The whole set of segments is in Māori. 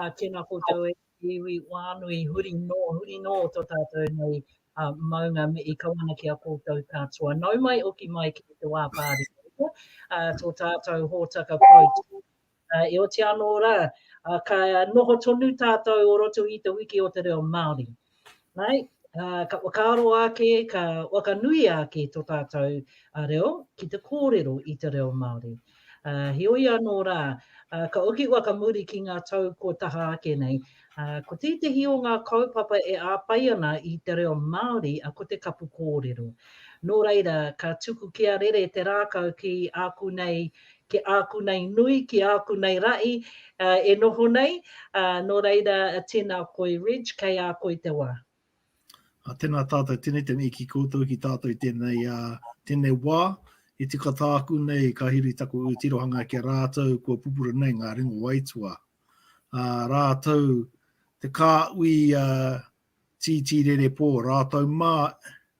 Ā, tēnā koutou e te iwi whānui, huri nō, huri nō tō tātou nei maunga me i kawana ki a koutou katoa. Nau mai hoki mai ki te wā pāremata, ā, tō tātou hōtaka poutū, ā, e oti anō rā, ā, ka noho tonu tātou o roto i Te Wiki o te Reo Māori. Āe, ka whakaaro ake, ka whakanui ake tō tātou reo ki te kōrero i te reo Māori. Heoi anō rā, ka hoki whakamuri ki ngā tau kua taha ake nei, ko tētehi o ngā kaupapa e āpai ana i te reo Māori, ko te kapu kōrero. Nō reira, ka tuku kia rere te rākau ki āku nei Ki āku nei nui, ki āku nei rahi e noho nei, nō reira tēnā koe Reg, kei a koe te wā. Tēnā tātou, tēnei te mihi ki koutou, ki tātou i tēnei, tēnei wā. I tika tāku nei, ka huri taku ū tirohanga ki a rātou kua pupuru nei ngā ringa o aituā. Rātou te kāhui tītī rerepō, rātou mā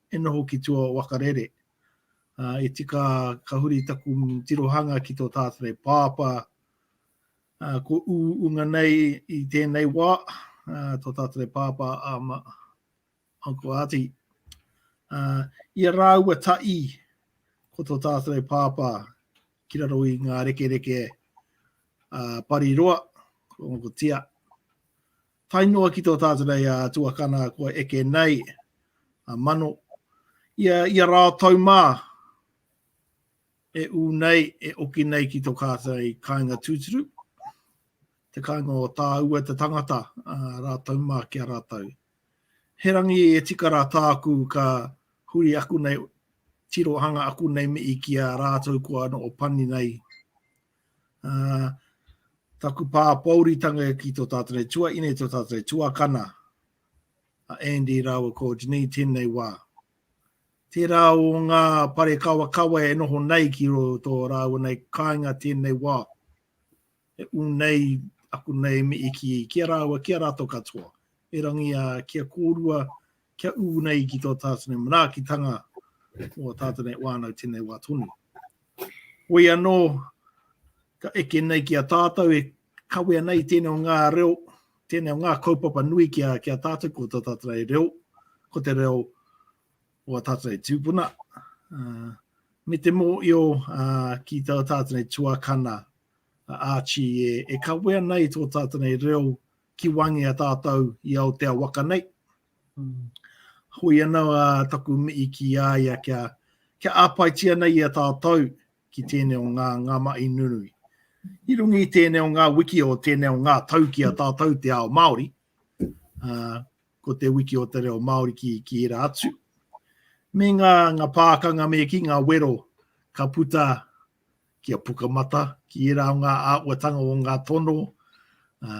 e noho ki tua o Wakarere. I tika ka huri taku tirohanga ki tō tātari pāpā, kua uunga nei i tēnei wā tō tātari pāpā a Uncle Ati. I a rāua taī ko tō tātari pāpā ki raro i ngā rekereke a Pariroa, ko Uncle Tia. Tae noa ki tō tātou nei a tuakana kua eke nei, a Mano, ia, ia rā tau mā e ū nei, e oki nei ki tō kātai kāinga tūturu, te kāinga o tāua te tangata rā tau mā ki a rātou. He rangi e tika rā tāku ka huri aku nei, tirohanga aku nei mii ki a rātou kua noho pani nei Uh, taku pāpouritanga ki tō tātou nei tua ine, tō tātou nei tuakana, a Andy rāua ko Janine tēnei wā. Tērā o ngā pare kawa kawa e noho nei ki ro tō rāua nei kāinga tēnei wā. E unei aku nei mi iki ki a rāua, ki a rātou katoa. E rangi a ki a kōrua, kia ū nei ki tō tātene manaakitanga mō ā tātene wānau tēnei wā tonu. Wei anō, ka eke nei ki a tātou e kawea nei tēnei o ngā reo, tēnei o ngā kaupapa nui ki a, ki a tātou ko tō tātene reo, ko te reo o a tātene tūpuna. Uh, me te mō i o uh, ki tō tātene tuakana, uh, Archie, e, e kawea nei tō tātene reo, ki Wāngia tātou i Aotea waka nei. Hoi anō a taku mihi ki a ia kia, kia āpaitia nei i a tātou ki tēnei o ngā, ngā mahi nunui. I rungi i tēnei o ngā wiki o tēnei o ngā tau ki a tātou te ao Māori, uh, ko te wiki o te reo Māori ki, ki ira atu. Me ngā, ngā pākanga me ki ngā wero ka puta Kia Pukamata, ki ērā o ngā āhuatanga o ngā tono, ā,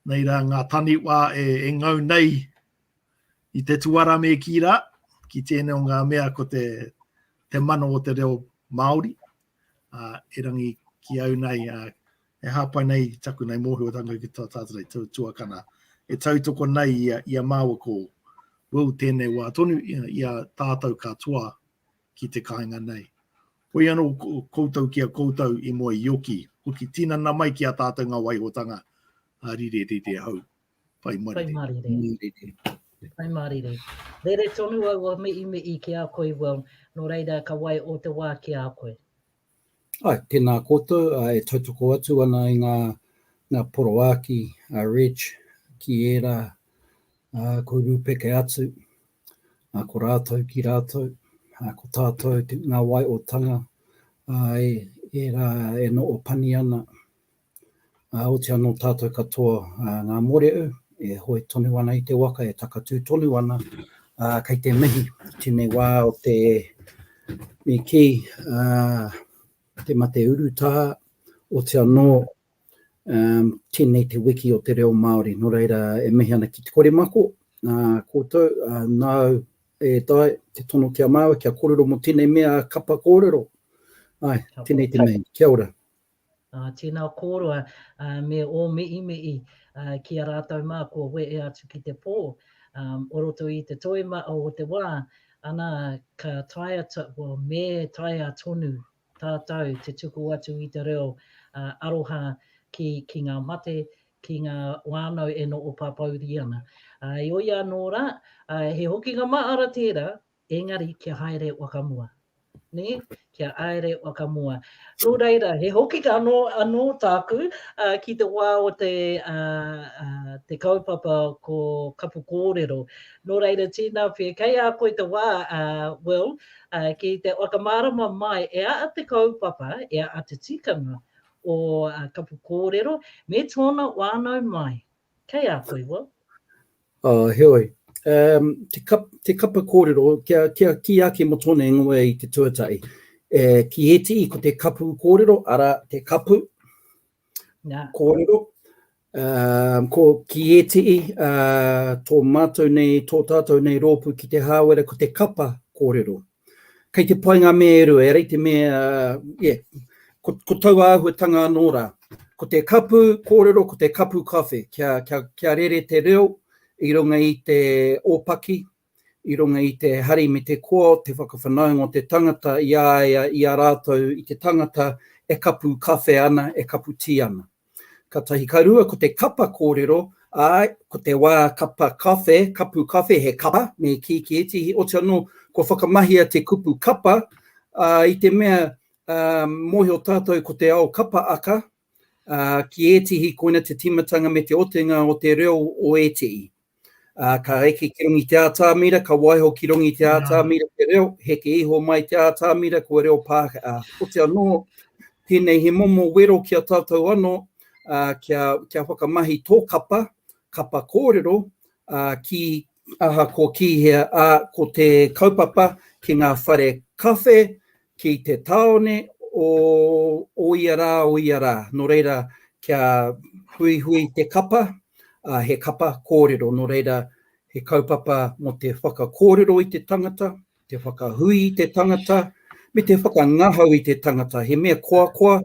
nei rā ngā taniwha e, e ngau nei i te tuara me kī rā, ki tēnei o ngā mea ko te, te mana o te reo Māori, ā, erangi ki au nei, ā, e hāpai nei i taku nei mōhiotanga ki tā tātou nei tu, tuakana, e tautoko nei i a, i a māua ko Will tēnei wā tonu i a, i a tātou katoa ki te kāinga nei. Hoi anō koutou ki a koutou i moe ioki, hoki tinana mai ki a tātou ngā waihotanga a Rirerire hau. Pai marire. Pai marire. Pai marire. Rere tonu au a mei mei ki a koe well, no reira ka wai o te wā ki a koe. Ai, tēnā koutou e tautoko atu ana i ngā, ngā poroāki a Reg ki ērā uh, ko Rūpeke atu. Ā, ko rātou ki rātou, Ā, ko tātou te, ngā waeotanga, ā, e, ērā e noʻo pani ana, ā, oti anō tātou katoa, ā, ngā mōreʻu, e hoe tonu ana i te waka, e takatū tonu ana, ā, kei te mihi i tēnei wā o te, me kī, ā, te mate urutā, oti anō, Tēnei te wiki o te reo Māori, nō reira e mihi ana ki te kore mako koutou, nāu e Dai te tono ki a māua kia kōrero mō tēnei mea kapa kōrero. Āe, tēnei te mea, kia ora. Tēnā kōrua, me ō mihi mihi ki a rātou mā kua wehe atu ki te pō o roto i te toimaha o te wā, ana ka taea, well, me taea tonu tātou te tuku atu i te reo aroha ki ngā mate, ki ngā whānau e noho pāpōuri ana. Heoi anō rā, he hokinga mahara tērā, engari kia haere whakamua. Nē? Kia haere whakamua. Nō reira, he hokinga anō tāku ki te wā o te kaupapa ko Kapu Kōrero. Nō reira, tēnā pea, kei a koe te wā, Will, ki te whakamārama mai e a te kaupapa, e a te tikanga o Kapu Kōrero me tōna wānau mai. Kei a koe, Will. Āe, heoi. Te Kapa Kōrero, kia kī ake mō tōna ingoa i te tuatahi, ki ētihi ko te Kapu Kōrero, arā, te kapu, Kōrero, ko ki ētihi, tō mātou nei, tō tātou nei rōpū ki te Hāwera ko te kapa kōrero. Kei te pai ngā mea e rua, e rei te mea, yeah, ko, ko taua āhuatanga anō rā. Ko te kapu kōrero, ko te kapu kawhe, kia, kia, kia rere te reo i runga i te ōpaki, i runga i te hari me te koa o te whakawhanaunga o te tangata i a ia, i a rātou, i te tangata e kapu kawhe ana, e kapu tī ana. Ka tahi, ka rua, ko te kapa kōrero, ā, ko te wā kapa kawhe, kapu kawhe, he kapa, me kī ki ētehi, otirā anō, kua whakamahia te kupu kapa, ā, i te mea, ā, mōhio tātou ko te ao kapa aka, ā, ki ētehi koina te tīmatanga me te otinga o te reo o ētehi. Ā, ka eke ki rongi te ātamira, ka waiho ki rongi te ātamira te reo, heke iho mai te ātamira, kua reo Pākehā. Ā, ote anō, tēnei he momo wero ki a tātou anō, ā, kia, kia whakamahi tō kapa, kapa kōrero, ā, ki, ahakoa ki hea, ā, ko te kaupapa ki ngā whare kawhe, Ki te tāone o o ia rā, o ia rā. Nō reira, kia huihui te kapa, ā, he kapa kōrero. Nō reira, he kaupapa mō te whakakōrero i te tangata, te whakahui i te tangata, me te whakangahau i te tangata. He mea koakoa,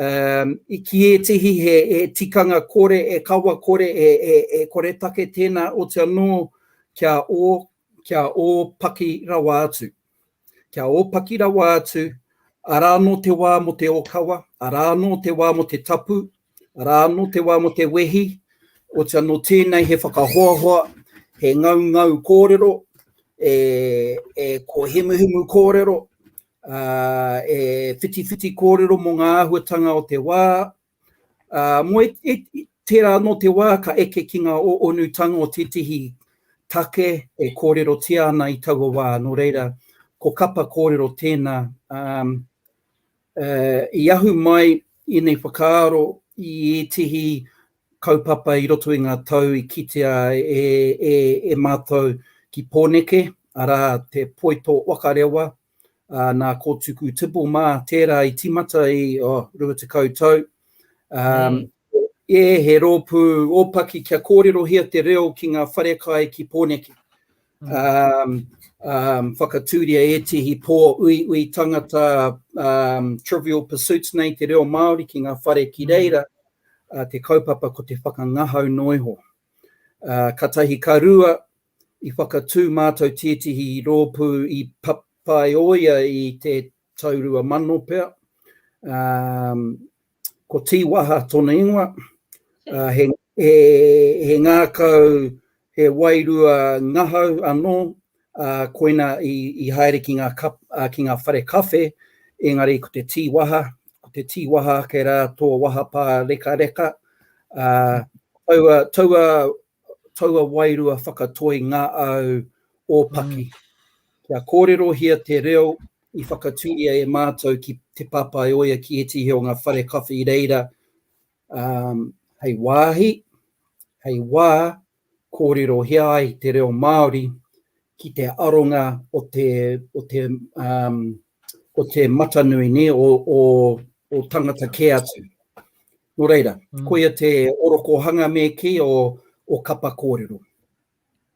i kī ētehi he tikanga kore, he kawa kore, he koretake tēnā, otirā anō kia ō, kia ō paki rawa atu. Kia ōpaki rawa atu, arā anō te wā mō te ōkawa, arā anō te wā mō te tapu, arā anō te wā mō te wehi, oti anō tēnei he whakahoahoa, he ngaungau kōrero, e, e kōhimuhimu kōrero, ā, e whitiwhiti kōrero mō ngā āhuatanga o te wā, Ā, mō tērā anō te wā ka eke ki ngā onutanga o tētehi take e kōrerotia ana i taua wā, nō reira, ko kapa kōrero tēnā. Ā, i ahu mai ēnei whakaaro i ētehi kaupapa i roto i ngā tau i kitea e mātou ki Pōneke, arā, te poito waka rewa, ā, nā Kōtuku Tibble mā tērā i tīmata i, oh, rua tekau tau. Ā, e, he rōpū ōpaki kia kōrerohia te reo ki ngā wharekai ki Pōneke. Ā, ā, whakatūria ētehi pō uiui tangata, ā, trivial pursuits nei te reo Māori ki ngā whare ki reira, ā, te kaupapa ko te whakangahau noa iho. Ā, ka tahi ka rua, I whakatū mātou tētehi rōpū i papaioia i te tau rua mano pea. Ko Tīwaha tōna ingoa, he ngākau, he wairua ngahau anō, koina i haere ki ngā whare kawhe, engari ko te Tīwaha, ko te Tīwaha ake rā tō waha pārekareka. Taua taua wairua whakatoi ngā au ōpaki. Kia kōrerohia te reo i whakatūria e mātou ki Te Pāpāioia ki ētehi o ngā whare kawhe i reira um, hei wāhi, hei wā, kōrerohia ai te reo Māori ki te aronga o te, o te, um, o te matanui ne, o, o, o tangata kē atu. Nō reira, koia te orokohanga me kī o Kapa Kōrero.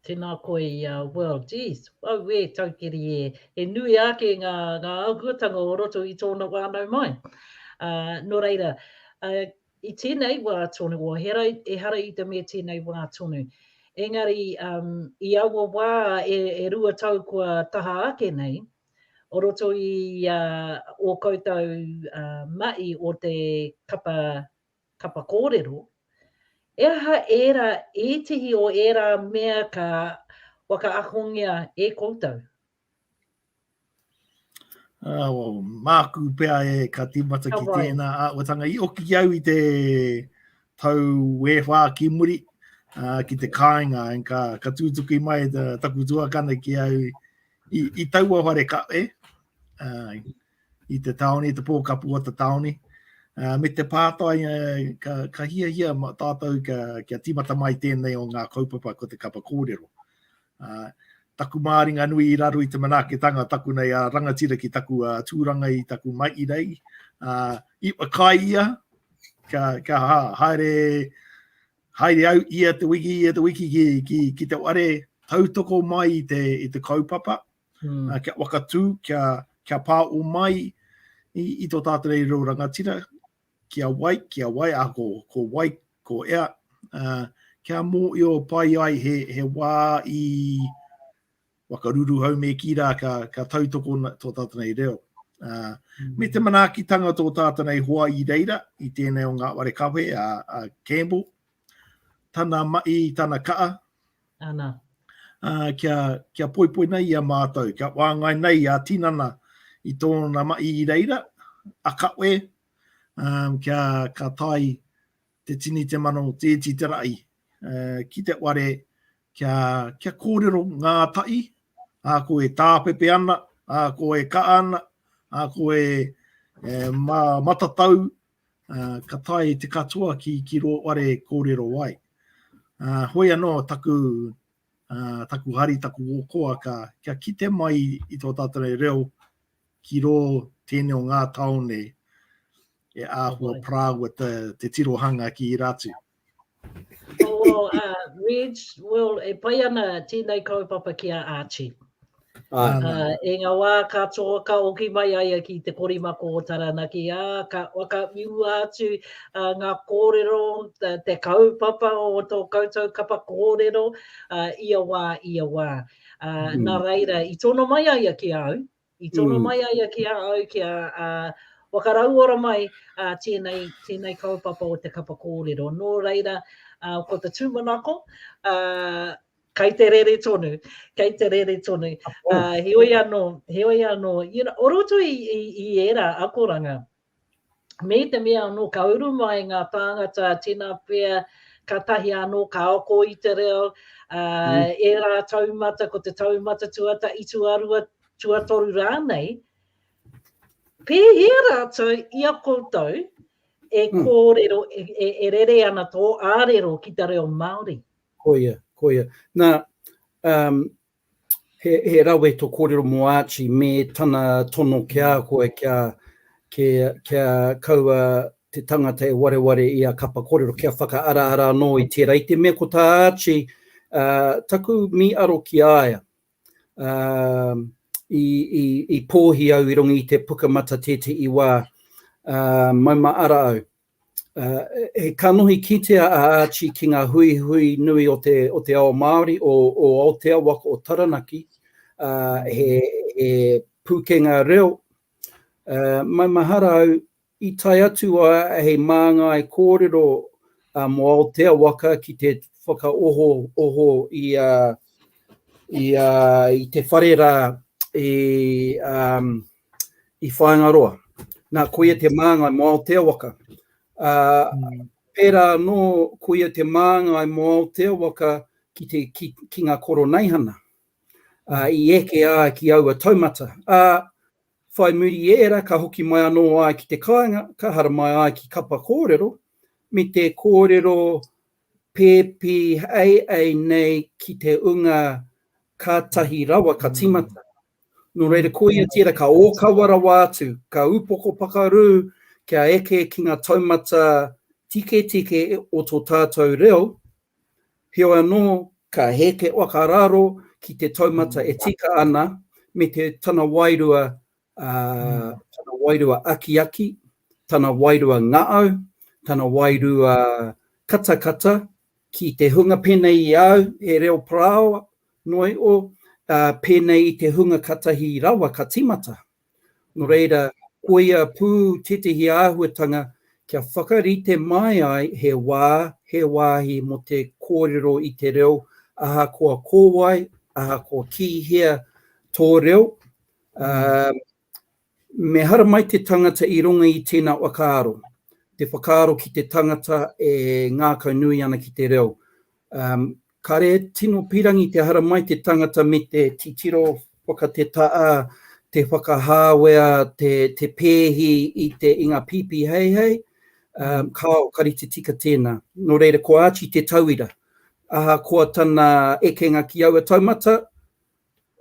Tēnā koe i a Well, geez, auē, taukiri ē, he nui ake ngā āhuatanga o roto i tōna wānau mai. Nō reira, i tēnei wā tonu, oahera, ehara i te mea tēnei wā tonu. Engari, i aua wā e rua tau kua taha ake nei, o roto i ō koutou mahi o te kapa, kapa kōrero, he aha ērā, ētehi o ērā mea ka whakaakongia e koutou? Māku pea e ka tīmata ki tēnā āhuatanga. I oki au i te tau e whā ki muri ki te kāinga, ka tūtuki mai taku tuakana ki au I, i taua whare kawe, uh, i te taone, i te pōkapu o te taone, uh, me te pātai, uh, ka, ka hiahia tātou ka, kia tīmata mai tēnei o ngā kaupapa ko te kapa kōrero. Uh, taku māringa nui i raro i te manaketanga taku nei a rangatira ki taku uh, tūranga i taku mai i rei. Uh, i kai ia, ka, ka ha, haere, Haere au ia te wiki, ia te wiki ki, ki, ki te ware, tautoko mai i te, i te kaupapa, mm. uh, kia wakatū, kia, kia pā o mai i, i tō tātarei reo rangatira, kia wai, kia wai, a ko, ko wai, ko ea, uh, kia mō i o pai ai he, he wā i, whakaruruhau me kī rā ka, ka tautoko tō tātou nei reo. Uh, me te manaakitanga tō tātou nei hoa i reira, i tēnei o ngā ware kawe a, a Campbell, tana mai, tana kaa. Ana. Uh, kia, kia poipoi nei i a mātou, kia wāngai nei a tinana i tōna mai i reira, a kawe, um, kia ka tai te tini, te mano, te iti, te raʻi, ki te ware kia, kia kōrero ngā taʻi, a ko e tāpepe ana, a ko e ka ana, a ko e, e ma, matatau, a, ka tae te katoa ki, ki rō ware kōrero ai. A, hoi anō taku, a, taku hari, taku ōkoa, ka, kia kite mai i tō tātou reo ki rō tēnei o ngā taone, e āhua parāua te, te tirohanga ki Irātu. Oh, well, uh, Reg, well, e pai ana tēnei kaupapa ki a Archie. Ah, uh, e ngā wā ka tō, ka oki mai aia ki te korimako o Taranaki, ā, ah, ka waka miua atu uh, ngā kōrero, te, te kaupapa o tō koutou kapa kōrero, uh, ia wā, ia wā. Uh, mm. Nā reira, i tono mai aia ki au, I tono mai a ia ki a au kia whakarauora mai tēnei, tēnei kaupapa o te kapa kōrero. Nō reira, ko te tūmanako, kei te rere tonu, kei te rere tonu. Heoi anō, heoi anō, you know, o roto i, i, i ērā akoranga, Me te mea anō ka uru mai ngā tāngata tinapea kātahi anō ka oko i te reo, ā, ērā taumata, ko te taumata tuatahi, tuarua, tuatoru rānei, pēhea rātou i a koutou e kōrero, e rere ana tō ārero ki te reo Māori? Koia, koia. Nā, He rawe to korero mo Archie me tana tono ki a koe kia kaua te tangata e wareware i a Kapa Korero kia whakaaraara anō i tērā. I te mea ko tā Archie, taku mīaro ki a ia, i pōhi au i runga i te pukamata tētehi wā, mauma ara au. He kanohi kitea a Archie ki ngā huihui nui o te ao Māori o Aotearoa ko Taranaki, he pūkenga reo. Maumahara au, i tae atu a hei māngai kōrero mō Aotearoa ki te whakaohooho i te whare rā i i Whāingaroa. Nā, koia te māngai mō Aoteawaka. Ā, mm. pērā anō, koia te māngai mō Aoteawaka ki, te, ki, ki ngā koroneihana. Ā, i eke ā ki aua taumata. Ā, whai muri i ērā, ka hoki mai anō ai ki te kāinga, ka hara mai ai ki kapa kōrero, me te kōrero pēpi ai ai nei ki te unga kātahi rawa ka timata. Nō reira, koia tērā ka ōkawa rawa atu, ka upoko pakarū kia eke ki ngā taumata tiketike o tō tātou reo, heoi anō, ka heke whakararo ki te taumata e tika ana me te tana wairua, tana wairua akiaki, tana wairua ngaau, tana wairua katakata, Ki te hunga pēnei i au, he reo parao noa iho, ā, pēnei i te hunga katahi rawa ka tīmata. Nō reira, koia pū tētehi āhuatanga kia whakarite mai ai he wā, he wāhi mō te kōrero i te reo, ahakoa ko wai, ahakoa ki hea tō reo, ā, Me haramai te tangata i runga i tēnā whakaaro, te whakaaro ki te tangata e ngākau nui ana ki te reo. Kare tino pirangi te haramai te tangata me te titiro whakatetaa, te whakahāwea, te te pēhi i te i ngā pīpī heihei, kāo, ka rite tika tēnā. Nō reira, ko Archie te tauira. Ahakoa tana ekenga ki aua taumata,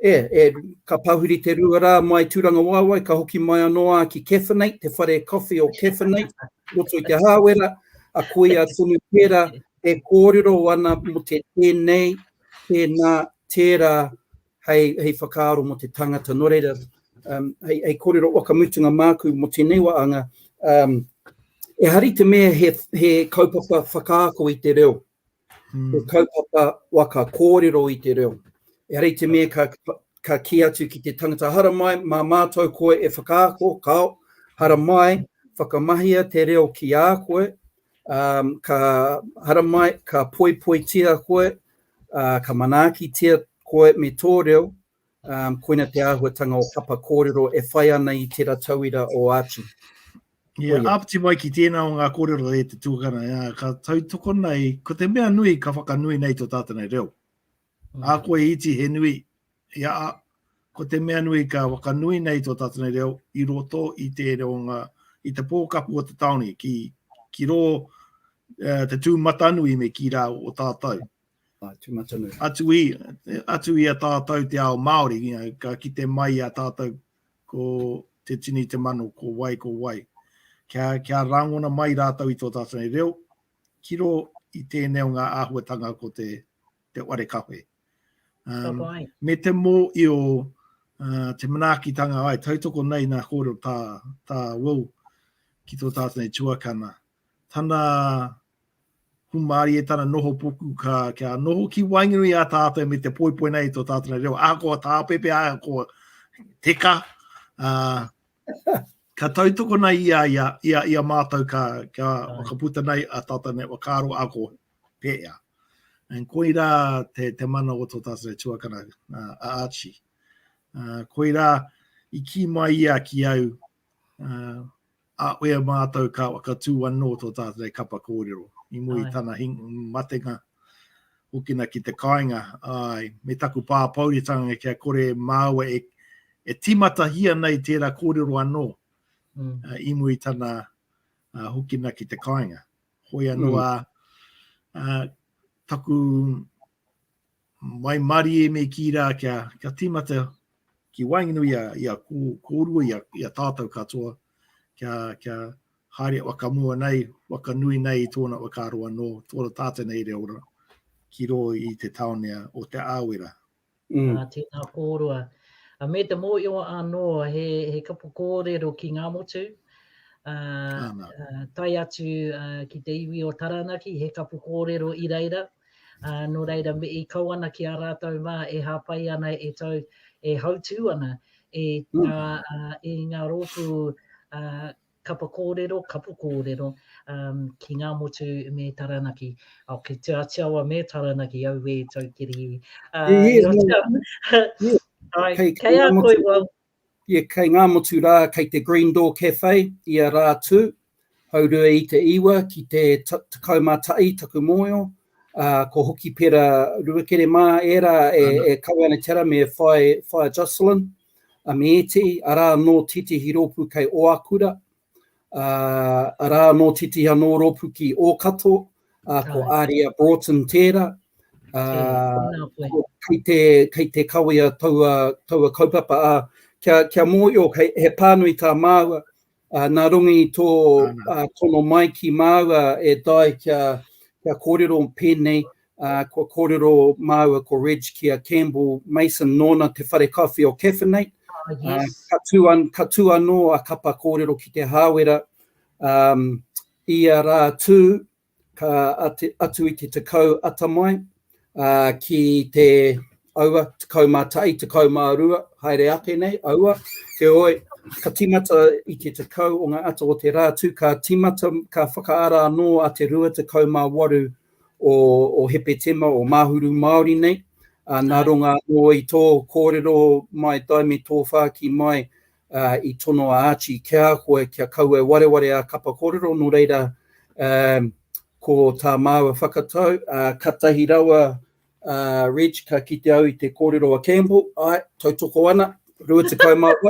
E, e, ka pahuri te rua rā mai Tūrangawaewae, ka hoki mai anō ā ki Caffenate, te whare coffee o Caffenate, roto i Te Hāwera, a koia tonu tērā e kōrero ana mō te tēnei, tēnā, tērā, hei, hei whakaaro mō te tangata. Nō reira, um, hei, hei kōrero wakamutunga māku mō tēnei waanga, um, e hari te mea he, he kaupapa whakaako i te reo, He kaupapa waka kōrero i te reo. Ehara i te mea ka, ka kī atu ki te tangata, haramai mā mātou koe e whakaako, kao, haramai whakamahia te reo ki a koe, um, ka haramai, ka poipoitia koe, uh, ka manaakitia koe me tō reo, koina te āhuatanga o Kapa Kōrero e whai ana i tera tauira o Āti. Ia, āpiti mai ki tēnā o ngā kōrero e te tuakana, ā, ka tautoko nei, ko te mea nui ka whakanui nei tō tātou nei reo. Ā koe iti he nui, ia, ā, ko te mea nui ka whakanui nei tō tātou nei reo i roto i te reo ngā, i te pōkapu o te tāone, ki, ki rō, uh, te tūmatanui me ki rā o tātou. Ā, tūmatanui. Atu i, atu i a tātou te ao Māori, you know, ka kite mai a tātou ko te tini te mano, ko wai, ko wai. Kia, kia rāngona mai rātou i tō tātou nei reo, ki ro i tēnei o ngā āhuatanga ko te, te ware kawe. Um, me te mō i o uh, te manaakitanga ai, tautoko nei nā kōrero tā, tā Will ki tō tātou nei tuakana. Tana Humari e tana noho puku ka kia noho ki waenganui a tātou me te poipoi nei tō tātou nei reo. Ahakoa tāpepe, ahakoa teka, uh, ka tautoko nei ia, ia, ia, ia mātou ka, ka whakaputa nei a tata nei wakaaro a ko pēea. And koira te, te mana o tō tātou nei tuakana uh, a Archie. Uh, koira i ki mai ia ki au uh, A e a mātou ka whakatū anō tō tātou kapa kōrero, i mua i tana matenga, hokina ki te kāinga, āe, me taku pāpouritanga kia kore māua e, e tīmatahia nei tērā kōrero anō, i mua i tana hokina ki te kāinga. Hoi anō a, a taku, Waimarie me kī rā kia tīmata ki waenganui i a kōrua, i a tātau katoa, kia haere whakamua nei, whakanui nei i tōna whakaaro anō, tōna tātai nei reo rā, ki rō i te tāone o Te Āwera. Ā, tēnā kōrua. Ā, me te mōhio anō, he kapo kōrero ki Ngāmotu, ā, tae atu ki te iwi o Taranaki, he kapo kōrero i reira, Ā, nō reira, me i kau ana ki ā rātou mā e hāpai ana e tau, e hautū ana i ngā, ā, i ngā rōpū, ā, kapa kōrero, kapu kōrero, ā, ki Ngāmotu me Taranaki. Ā, ki Te Āti Awa me Taranaki, auē, tau kiri. Ā, i roto. Āe, kei a koe, Wal. Ia kei ngā motu rā kei te Green Door Cafe ia rā tū, haurua i te iwa ki te tekau mā taʻi taku mōio, ā, ko Hokipera Ruakere mā ērā e, e kawe ana ki ara me Whaea Jocelyn, a me ētehi, arā anō tētehi rōpū kei Oakura, ā, arā, nō Titiha, nō Rōpuki, ō Kato, ā, ko Aria Broughton tērā, ā, kei te, kei te kawea taua, taua kaupapa, ā, kia, kia mōhio, he, he pānui tā māua, ā, nā runga i tō tono mai ki māua e Di kia, kia kōrero pēnei, Uh, kua kōrero māua ko Reg ki a Campbell Mason nōna te whare kawhi o Caffeinate. Oh, uh, yes. uh, ka, tū an, ka tū anō a Kapa kōrero ki te hāwera um, i a rā tū ka ati, atu i te tekau atamai uh, ki te aua, tekau mā tai, tekau mā rua, haere ake nei, aua, te oi, ka timata i te tekau o ngā ata o te rā tū, ka timata, ka whakaara anō a te rua tekau mā waru o Hepetema, o Māhuru Māori nei, nā runga anō i tō kōrero mai tai me tō whāki mai i tono a Archie ki a koe kia kau e wareware a Kapa Kōrero, nō reira ko tā māua whakatau, katahi rawa Reg ka kite au i te kōrero a Campbell, āe, tautoko ana, 28.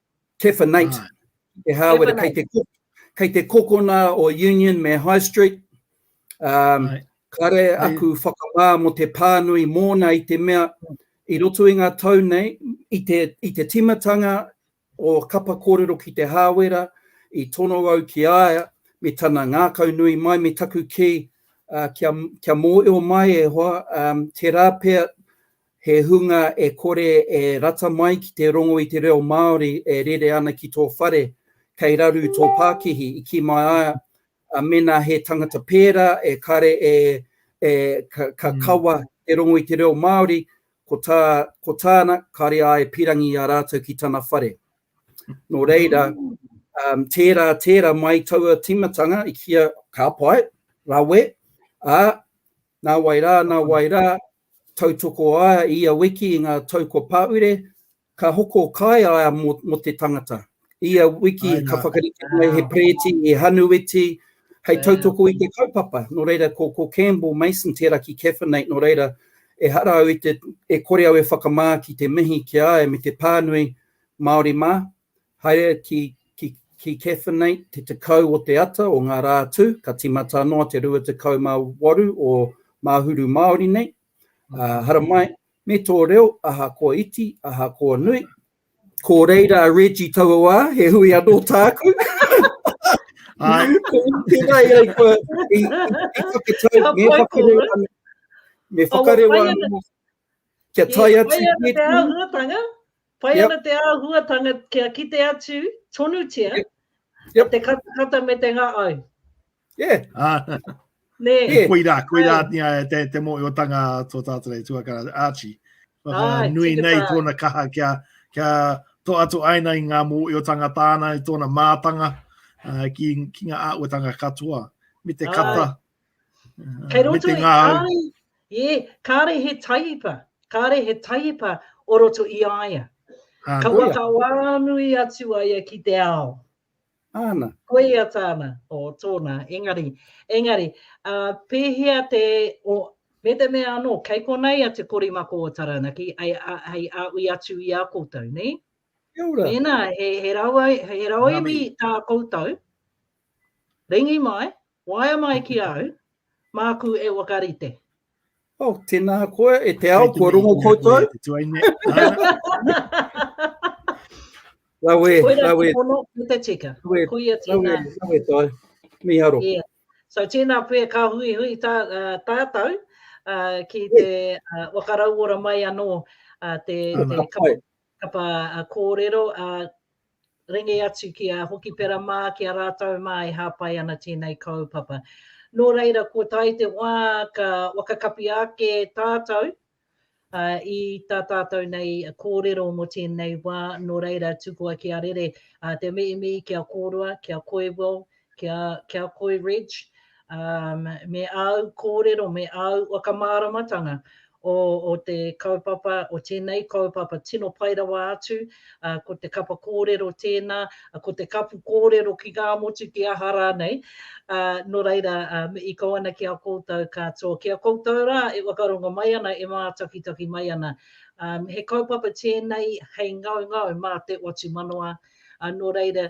Tefenate, ah. ki te hāwera, kei te, kei te kokona o Union me High Street. Um, right. Kare aku whakamā mo te pānui mōna i te mea, i roto i ngā tau nei, i te, i te timatanga o kapa kōrero ki te hāwera, i tono au ki aia, me tana ngākau nui mai, me taku ki, uh, kia, kia mōeo mai e hoa, um, te rāpea He hunga e kore e rata mai ki te rongo i te reo Māori e rere ana ki tō whare, kei raru tō pākihi, i kī mai ai a mēnā he tangata pērā e kare e e ka kawa te rongo i te reo Māori, ko tā ko tāna kare ai e pirangi i a rātou ki tana whare. Nō reira, tērā tērā mai taua tīmatanga i kīa ka pai, rawe, ā, nā wai rā, nā wai rā, Tautoko a ia wiki i ngā tau kua pāure, ka hoko kai a ia mō te tangata. Ia wiki ka whakarite mai he pereti e Hanuiti hei tautoko i te kaupapa, nō reira ko Campbell Mason tērā ki Caffenate, nō reira ehara au e kore au e whakamā ki te mihi ki a ia me te pānui, Māori mā, Haere ki ki Cathinate te tekau o te ata o nga ra tu, ka timata ano a te rua tekau ma waru o Mahuru Maori nei. Haramai, me to reo, ahakoa iti, ahakoa nui. Ko reira a Reggie taua wa, he hui ano taku. Ai. Ko tera ia i kua, i, i whakatau, me whakareo ano. Me whakareo ano. Kia tai atu. Kia tai atu te ahungatanga. Pai yep. ana te āhuatanga kia kite atu tonutia yep. Yep. te katakata me te ngā au. Yeah. Uh, ne. Yeah. Koirā, koirā nia te, te mōiotanga tō tātou nei tuakara Archie. Waka Ai, nui nei tā. tōna kaha kia, kia to atu aina i ngā mōiotanga tāna i tōna mātanga uh, ki, ki ngā āuatanga katoa. Me te Ai. kata, Kei roto i kāre, yeah, kāre he taipa, kāre he taipa o roto i a ia. Ah, Ka waka wānui atu a ia ki te ao. Āna. Koia tāna, o tōna, engari, engari, uh, pēhea te, o, me te mea anō, kei konei a te korimako o Taranaki, ai, ai a ui atu i a koutou, nei? Kia ora. Mēnā, he, he rawa, he rawa imi tā koutou, ringi mai, Waea mai ki au, māku e whakarite. Oh, tēnā koe, e te ao, kua rongo koutou. Te tuaine. Rawe, rawe. Koira te pono, me te tika. Rawe, Koia tēnā. Rawe, rawe tai. Miharo. Yeah. So tēnā pē ka hui hui tā, uh, tātou uh, ki te uh, wakarauora mai anō uh, te, te kapo. Kapa a kōrero, a ringi atu ki a Hokipera mā, ki a rātou mā e hāpai ana tēnei kaupapa. Nō reira, kua tae te wā ka whakakapi ake tātou i tā tātou nei kōrero mō tēnei wā, nō reira, tukua kia rere te mihi mihi ki a kōrua, ki a Koiwell, kia koe Reg, me āu kōrero, me āu whakamāramatanga o te kaupapa, o tēnei kaupapa tino pai rawa atu, ko te kapa kōrero tēnā, ko te kapu kōrero ki ngā motu, ki aha rānei, nō reira, i kō ana ki a koutou katoa, ki a koutou rā e whakarongo mai ana, e mātakitaki mai ana. He kaupapa tēnei hei ngaungau mā te watu manawa, nō reira,